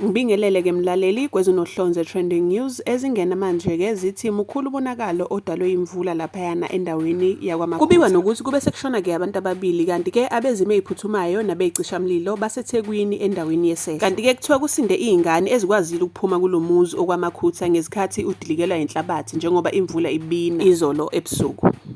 Ngibingelele ke mlaleli kwezonohlonze trending news ezingena manje ke zithi mukhulu bonakalo odalwe imvula lapha yana endaweni yakwaMakhosi. Kubikwa nokuthi kube sekushona ke abantu ababili kanti ke abezimo eziphuthumayo nabeyicishamlilo baseThekwini endaweni yesehlo. Kanti ke kuthiwa kusinde izingane ezikwazile ukuphuma kulomuzi okwamakhutha ngezikhathi udilikelwa inhlabathi njengoba imvula ibina izolo ebusuku.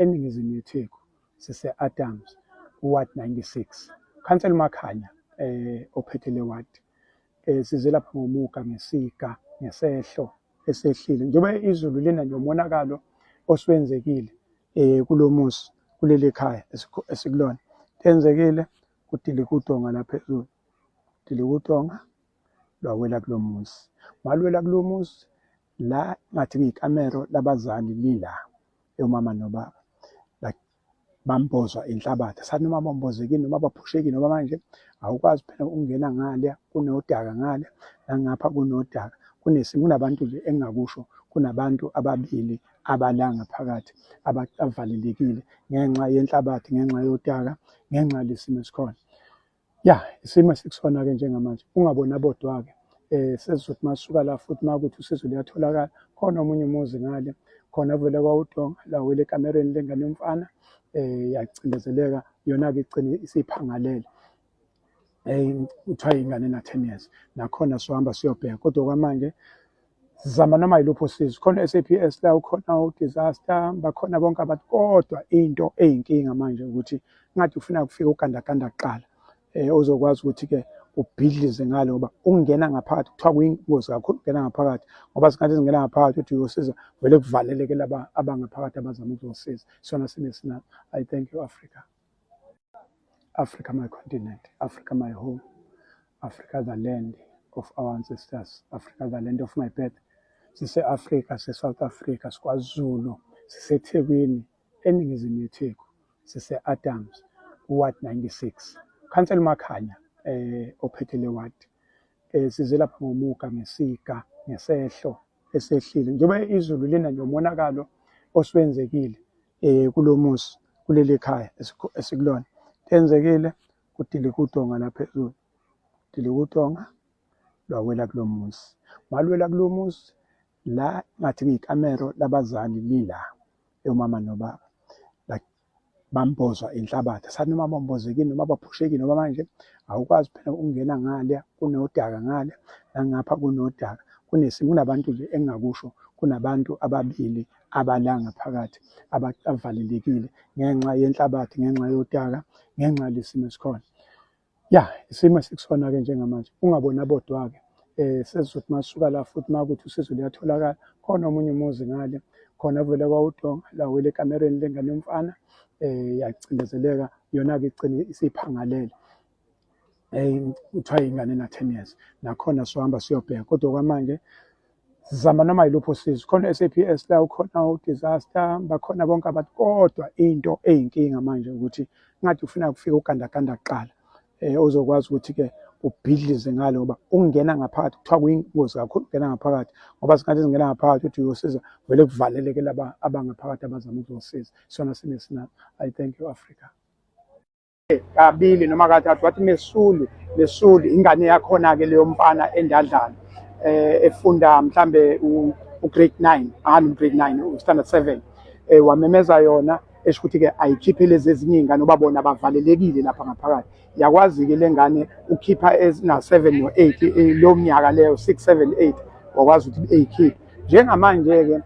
eningizimu yeTheku sise-Adams Ward 96 Khansela uMakhanya eh ophethe le ward eh size lapha ngomuka ngesiga ngesehlo esehlile njengoba izulu lina nje umonakalo oswenzekile eh kulomuzi kuleli khaya esikulona tenzekile kudilikudonga laphezulu dilikudonga lwawela kulomuzi malwela kulomuzi la ngathi ngikamero labazali lila yomama nobaba like bambozwa inhlabathi sathi noma bambozekile noma baphushekile noma manje awukwazi phela ukungena ngale kunodaka ngale nangapha kunodaka kunesimo kunabantu nje engingakusho kunabantu ababili abalanga phakathi abavalelekile ngenxa yenhlabathi ngenxa yodaka ngenxa lesimo esikhona ya isimo esikusona-ke njengamanje ungabona bodwa-ke um sesizothi masuka la futhi uma kuthi usizo luyatholakala khona omunye umuzi ngale khona kuvele kwawudonga lawela ekamereni lengane yomfana um yacindezeleka yona-ke igcine isiyiphangalele um kuthiwa ingane na-ten years nakhona sohamba siyobheka kodwa kwamanje sizama noma yiluphi usizo khona SAPS la ukhona u disaster bakhona bonke abantu kodwa into eyinkinga manje ukuthi ngathi ufuna kufika ugandaganda kuqala eh uzokwazi ukuthi ke ubhidlize ngalo ngoba ungena ngaphakathi kuthiwa kuyingozi kakhulu ukungena ngaphakathi ngoba singathi singena ngaphakathi uthi uyosiza vele kuvaleleke laba abangaphakathi abazama ukuzosiza sona sinesina i thank you africa Africa my continent, Africa my home, Africa the land of our ancestors, Africa the land of my birth. Sise-Afrika, sise-South Africa, sikwaZulu, siseThekwini, eningizimu yeTheku, sise-Adams, Ward 96. Khansela uMakhanya eh ophethe le ward eh size lapha ngomuka ngesika ngesehlo esehlile njengoba izulu lina nje umonakalo oswenzekile eh kulomuzi kuleli khaya esikulona enzekile kudilikudonga laphezulu dilikudonga lwawela kulomuzi malwela kulomuzi la ngathi kuyikamero labazali lila yomama nobaba bambozwa inhlabathi sathi noma bambozekile noma baphushekile noma manje awukwazi phela ukungena ngale kunodaka ngale nangapha kunodaka kunabantu nje engingakusho kunabantu ababili abalanga phakathi abavalelekile ngenxa yenhlabathi ngenxa yotaka ngenxa lesimo esikhona ya isimo esikusona ke njengamanje ungabona bodwa ke eh sesizothi masuka la futhi makuthi usizo luyatholakala khona omunye umuzi ngale khona vele kwawudonga la wele kamereni lengane yomfana eh yacindezeleka yona ke igcine isiphangalele um kuthiwa ingane na-ten years nakhona sohamba siyobheka kodwa kwamanje zama noma yiluphi usizo khona u-s a p s la ukhona u-disaster bakhona bonke abantu kodwa into eyinkinga manje ukuthi ngathi ufuna kufika ugandaganda kuqala um eh, ozokwazi ukuthi-ke ubhidlize ngalo ngoba ukungena ngaphakathi kuthiwa kuyingozi kakhulu ukungena ngaphakathi ngoba singathi zingena ngaphakathi ukuthi uyosiza vele kuvaleleke laba abangaphakathi abazama ukuzosiza isona sine sinalo i thank you africa kabili noma kathathu wathi mesuli mesuli ingane yakhona ke leyo mfana endadlana eh efunda mhlambe u grade 9 ahambe grade 9 u standard 7 eh wamemeza yona esho ukuthi ke ayikhiphe lezi ezinye ingane oba bona bavalelekile lapha ngaphakathi yakwazi ke lengane ukhipha ezina 7 no 8 eh, lo mnyaka leyo 6 7 8 wakwazi ukuthi eyikhiphe Njengamanje-ke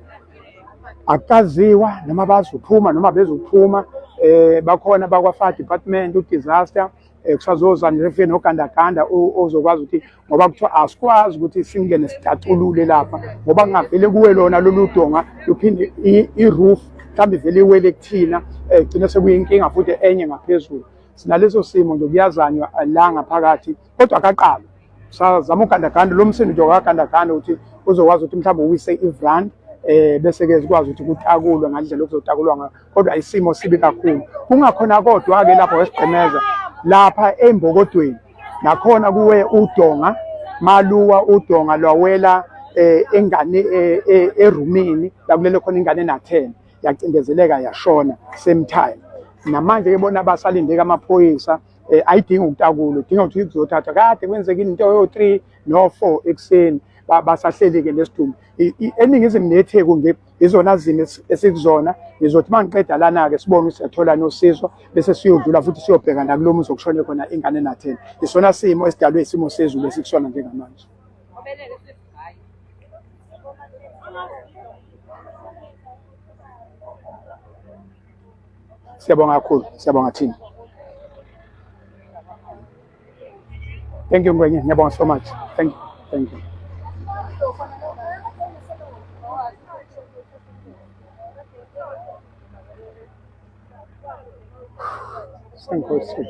akukaziwa noma bazophuma noma bezophuma eh bakhona bakwa fire department u disaster eh, kusazoza nje nogandaganda ozokwazi ukuthi ngoba kuthiwa asikwazi ukuthi singene sidatulule lapha ngoba kungavele kuwe lona lolu donga luphinde i-roof mhlawumbe ivele iwele kuthina eh, gcine sekuyinkinga futhi enye ngaphezulu sinaleso simo nje kuyazanywa la ngaphakathi kodwa kaqala sazama ugandaganda lo msindo nje wakagandaganda ukuthi uzokwazi ukuthi mhlawumbe uwise ivrand eh bese ke zikwazi ukuthi kutakulwe ngalendlela okuzotakulwa ngayo kodwa isimo sibi kakhulu kungakhona kodwa ke lapho wesigqemeza lapha embokodweni nakhona kuwe udonga maluwa udonga lwawela eh engane eh, eh, erumini la kulele khona ingane na 10 yacindezeleka yashona same time namanje ke bona basalindeka amaphoyisa eh, ayidingi ukutakulwa idinga ukuthi kuzothathwa kade kwenzeka into yo-three no-four ekuseni basahleli-ke lesidumbu eningizimu netheku nje izona zimo esikuzona ngizothi uma ngiqeda lana-ke sibone siyathola nosizo bese siyodlula futhi siyobheka nakulo muzi okushone khona ingane natheni isona simo esidalwe isimo sezulu esikusona njengamanje Siyabonga kakhulu, siyabonga team. Thank you Ngwenye, ngiyabonga so much. Thank you. Thank you. Senkosi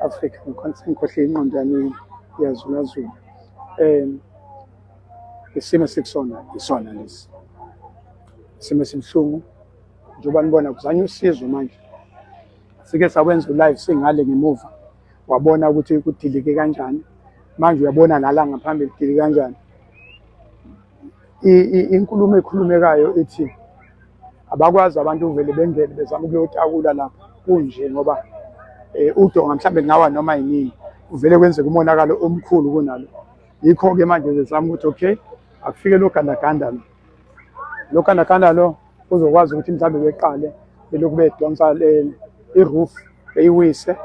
Africa, senkosi inqondo yami iyazulazula. Um, isimo sikusona isona lesi isimo esibuhlungu njengoba nibona kuzanye usizo manje sike sakwenza ulive singale ngemuva wabona ukuthi kudilike kanjani manje uyabona nala ngaphambili kudilike kanjani inkulumo ekhulumekayo ithi abakwazi abantu ukuvele bengene bezama ukuyotakula lapha kunje ngoba eh, udonga mhlawumbe ngawa noma yinini uvele kwenzeka umonakalo omkhulu kunalo yikho-ke manje zezama ukuthi okay akufike lo gandaganda lo lo kandakanda lo uzokwazi ukuthi mhlawumbe beqale belokhu bedonsa i-roof beyiwise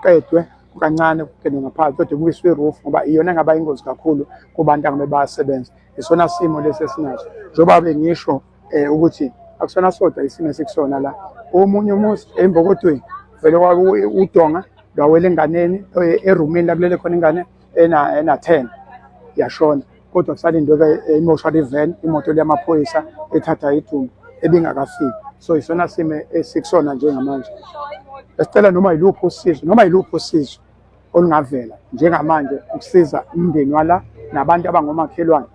qedwe kancane kugene ngaphansi kodwa kuwiswe i-roof ngoba iyona engaba ingozi kakhulu kubantu angabe bayasebenza isona simo lesi esinaso njengoba bengisho um ukuthi akusona sodwa isimo esikusona la omunye umuzi embokodweni vele udonga lwawela enganeni erumini lakulele khona ingane ena ena 10 yashona kodwa kusalindwe ke eh, imoshwari van imoto liyamaphoyisa ethatha idumbu ebingakafiki so isona sime esikusona njengamanje esicela noma yiluphi usizo noma yiluphi usizo olungavela njengamanje ukusiza umndeni wala nabantu abangomakhelwane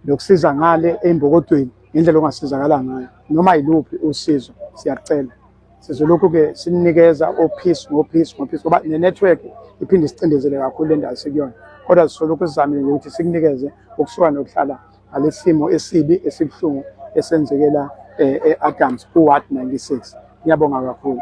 nokusiza ngale embokodweni ngendlela ongasizakala ngayo noma yiluphi usizo siyakucela sizolokhu-ke sinikeza ophisi ngophisi ngophisi ngoba ne-network iphinde isicindezele kakhulu le ndawo sikuyona kodwa sisolokhu sizamile nje ukuthi sikunikeze ukusuka nokuhlala ngalesimo esibi esibuhlungu esenzekela eh, e-adams ku-ward 96 ngiyabonga kakhulu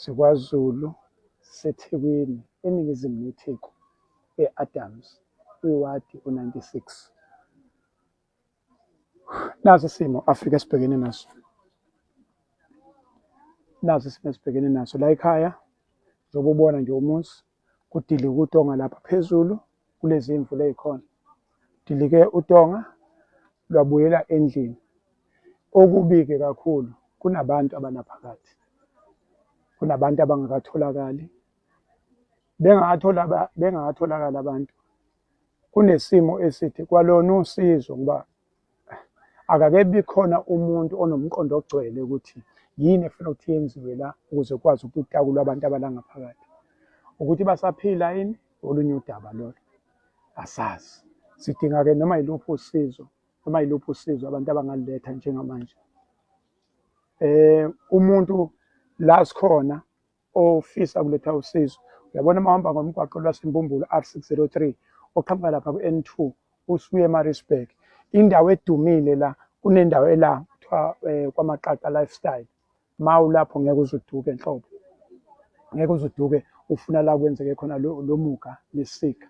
SiKwaZulu, siseThekwini, eningizimu yeTheku, e-Adams, iwadi u-96. Nasi isimo Afrika esibhekene naso. Nasi isimo esibhekene naso la ekhaya, njengoba ubona nje umuzi kudilike uTonga lapha phezulu kulezi mvula ezikhona dilike uTonga lwabuyela endlini okubike kakhulu kunabantu abanaphakathi kunabantu abangakatholakali bengakatholakala bengakatholakala abantu kunesimo esithi kwalona usizo ngoba akake bikhona umuntu onomqondo ogcwele ukuthi yini efuna ukuthi yenziwe la ukuze kwazi ukutakulwa abantu abalangaphakathi ukuthi basaphila yini olunye udaba lolo asazi sidinga-ke noma yiluphi usizo noma yiluphi usizo abantu abangaluletha njengamanje um umuntu la sikhona ofisa ukuletha usizo uyabona uma uhamba ngomgwaqo lwasembumbulu r603 oqhamuka lapha ku-n2 usuye emarisburg indawo edumile la kunendawo ela kuthiwa um eh, kwamaqaqa lifestyle ma ulapho ngeke uzuduke nhlobo ngeke uzuduke ufuna la kwenzeke khona lo muka nesika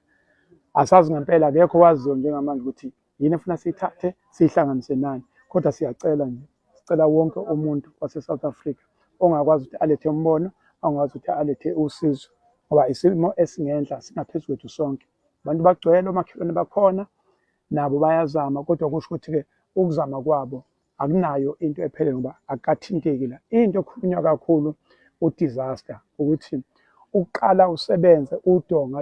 asazi ngempela akekho waziyo njengamanje ukuthi yini efuna siyithathe siyihlanganise nani kodwa siyacela nje sicela wonke umuntu wase-south africa ongakwazi ukuthi alethe umbono ongakwazi ukuthi alethe usizo ngoba isimo esingenhla singaphezu kwethu sonke abantu bagcwele omakhelwane bakhona nabo bayazama kodwa kusho ukuthi-ke ukuzama kwabo akunayo into ephelele ngoba akukathinteki la into ekhulunywa kakhulu udisaster ukuthi ukuqala usebenze udonga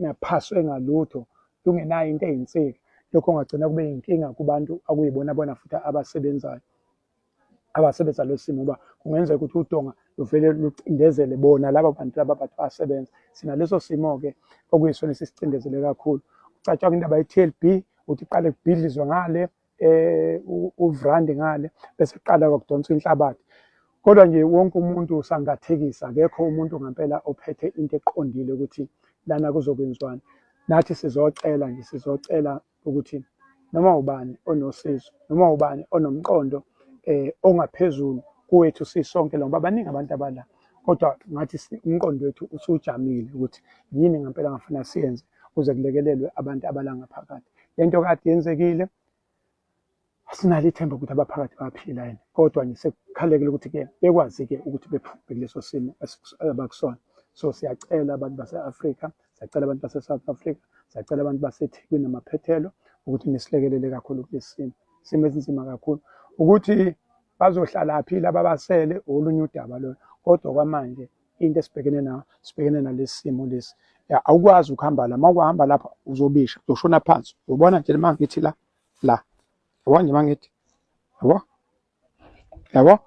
naphaswe ngalutho lungenayo into eyinsika lokho kungagcina kube yinkinga kubantu akuyibona bona futhi abasebenzayo abasebenza lo simo uba kungenzeka ukuthi udonga luvele lucindezele bona laba bantu laba bantu basebenza sina leso simo-ke okuyisona esisicindezele kakhulu kucatshangwa indaba ye-tlb ukuthi iqale kubhidlizwe ngale eh uvrandi ngale bese kuqala kokudonsa inhlabathi kodwa nje wonke umuntu usangathekisa akekho umuntu ngempela ophethe into eqondile ukuthi lana kuzokwenziwani nathi sizocela nje sizocela ukuthi noma ubani onosizo noma ubani onomqondo eh ongaphezulu kuwethu sisonke lo ngoba baningi abantu abala kodwa ngathi umqondo wethu usujamile ukuthi yini ngempela ngafanele siyenze kuze kulekelelwe abantu abala ngaphakathi le nto kade yenzekile asinalo ithemba ukuthi abaphakathi baphila yini kodwa nje sekukhalekile ukuthi-ke bekwazi-ke ukuthi bephume kuleso simo abakusona so siyacela abantu base-afrika siyacela abantu base-south africa siyacela abantu basethekwini namaphethelo ukuthi nisilekelele kakhulu kulesi simo simo esinzima kakhulu ukuthi bazohlala phi laba basele olunye udaba lona kodwa kwamanje into esibhekene nayo sibhekene nalesi simo lesi awukwazi ukuhamba la mawuhamba lapha uzobisha uzoshona phansi ubona nje uma ngithi la la yabona nje uma ngithi yabo yabo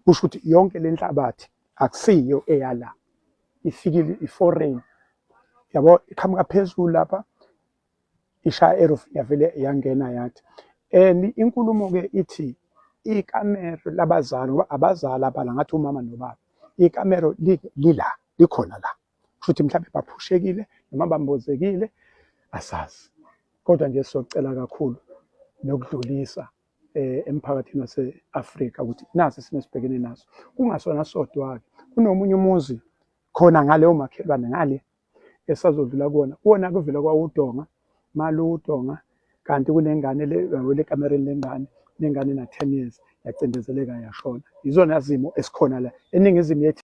kusho ukuthi yonke le nhlabathi akusiyo eyala ifikile i-foreign yabo iqhamuka phezulu lapha ishaya erof yavele yangena yathi and inkulumo-ke ithi ikamero labazali ngoba abazali abala ngathi umama nobaba ikamero lila likhona la kushuthi mhlawumbe baphushekile noma bambozekile asazi kodwa nje siyocela kakhulu nokudlulisa eh, emphakathini wase-afrika ukuthi nasi isimo esibhekene naso kungasona sodwa-ke kunomunye umuzi khona ngaleyo makhelwane ngale esazodlula kuwona kuwona kuvele kwawudonga maludonga kanti kunengane le wele kamereni lengane nengane na 10 years yacindezeleka yashona izona zimo esikhona la eningizimu yethu